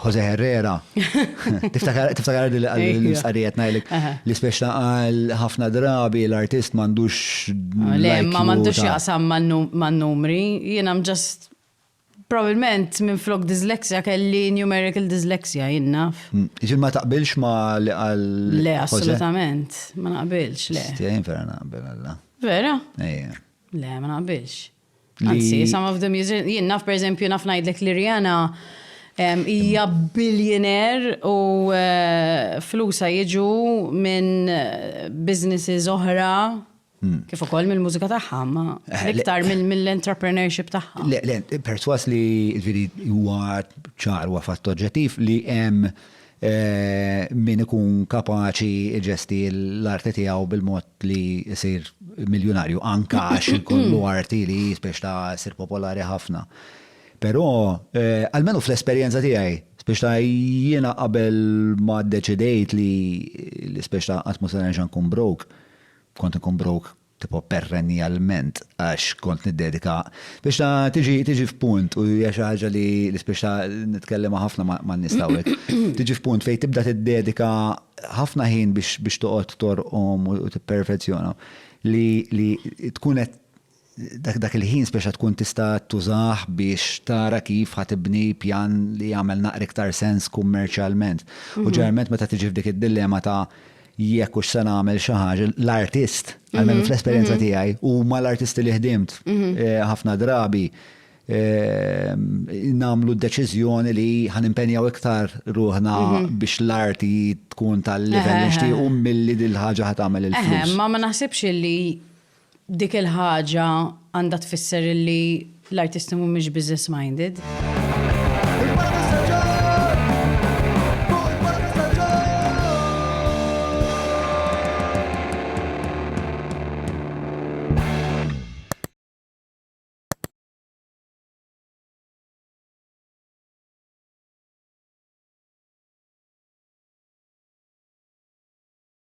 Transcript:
Jose Herrera. Tiftakar li l-istqarijiet najlik li speċna għal ħafna drabi l-artist mandux. Ah, le, ma mandux jaqsam man numri, jien am just probabilment minn flok dyslexia kelli numerical dyslexia jinnaf. Mm, Ġil ma taqbilx ma li għal. Le, assolutament, ma naqbilx, le. Stjajn vera naqbel għalla. Vera? Ejja. Le, ma naqbilx. Anzi, some of the musicians, jien naf per eżempju naf ngħidlek li Rihanna hija billionaire u eh, flusa jiġu minn eh, businesses oħra hmm. kif ukoll mill-mużika tagħha, ma eh, iktar mill-entrepreneurship tagħha. Le, perswas li ġifieri huwa ċar huwa fatt oġġettiv li hemm Min ikun kapaċi jġesti l-arti tiegħu bil-mod li jsir miljunarju, anke għax ikollu arti li hi spiex ta' ssir popolari ħafna. Però, almenu fl-esperjenza tiegħi, spiex ta' jiena qabel ma ddeċidejt li spiex ta' qatt mhu se nerġa' nkun broke, kont inkun broke tipo perrennialment għax kont niddedika biex ta' tiġi tiġi f'punt u hija xi ħaġa li l-ispiex ta' nitkellem ħafna man-nies tawek. Tiġi f'punt fejn tibda tiddedika ħafna ħin biex biex toqgħod torqom u tipperfezzjona li li tkun qed dak dak il-ħin speċa tkun tista' tużah biex tara kif ħa tibni pjan li jagħmel naqra iktar sens kummerċjalment. U ġeneralment meta tiġi f'dik id-dillema ta' jekk hux se nagħmel xi ħaġa l-artist, għalmenu mhm, fl-esperjenza mhm. tiegħi, u ma l-artisti li ħdimt mhm. eh, ħafna drabi eh, namlu d-deċiżjoni li ħan impenjaw iktar ruħna biex l-arti tkun tal-level nixtiequ milli dil-ħaġa ħat tagħmel il-flus. Ma ma naħsibx li Dik il-ħaġa għandha tfisser illi l-artisti mhumiex business minded.